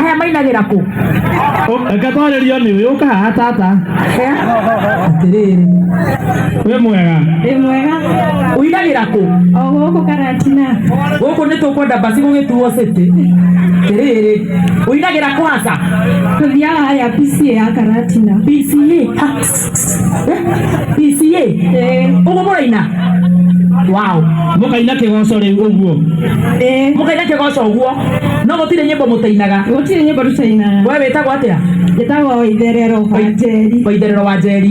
aya mainagĩra kũ reke twarĩrio nĩ ũyũ ũkahaha tata Eh? atĩrĩrĩ wĩ mwega Wĩ mwega ũinagĩra kũ o gũkũ karatina gũkũ nĩ tũkwenda basi gũgĩtuo city atĩrĩrĩ ũinagĩra kwaca tũthiaga ya pca ya karatina bca PCA ũgũmũra ina wow mũkaina kĩgoco rĩu ũguo eh mũkaina kĩgoco ũguo no gũtirĩ nyĩmbo mũtainaga gũtirĩ nyĩmbo tũtainaga we wĩtagwo atĩa njĩtagwo itherero wa njeri waitherero wa njeri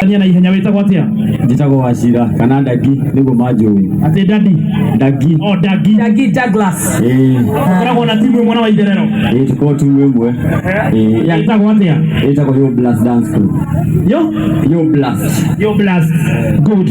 Tania na ihenya wĩtagwo atĩa njĩtagwo wacira kana ndagi nĩguo manjũĩ atĩ dadi ndagi o dagi Dagi Douglas. ĩĩ koragwo na timu ĩmwe na waitherero ĩĩ tũkorwo timu ĩmwe ĩĩ ya- ĩtagwo atĩa ĩtagwo yo blast dance crew yo yo blast yo blast good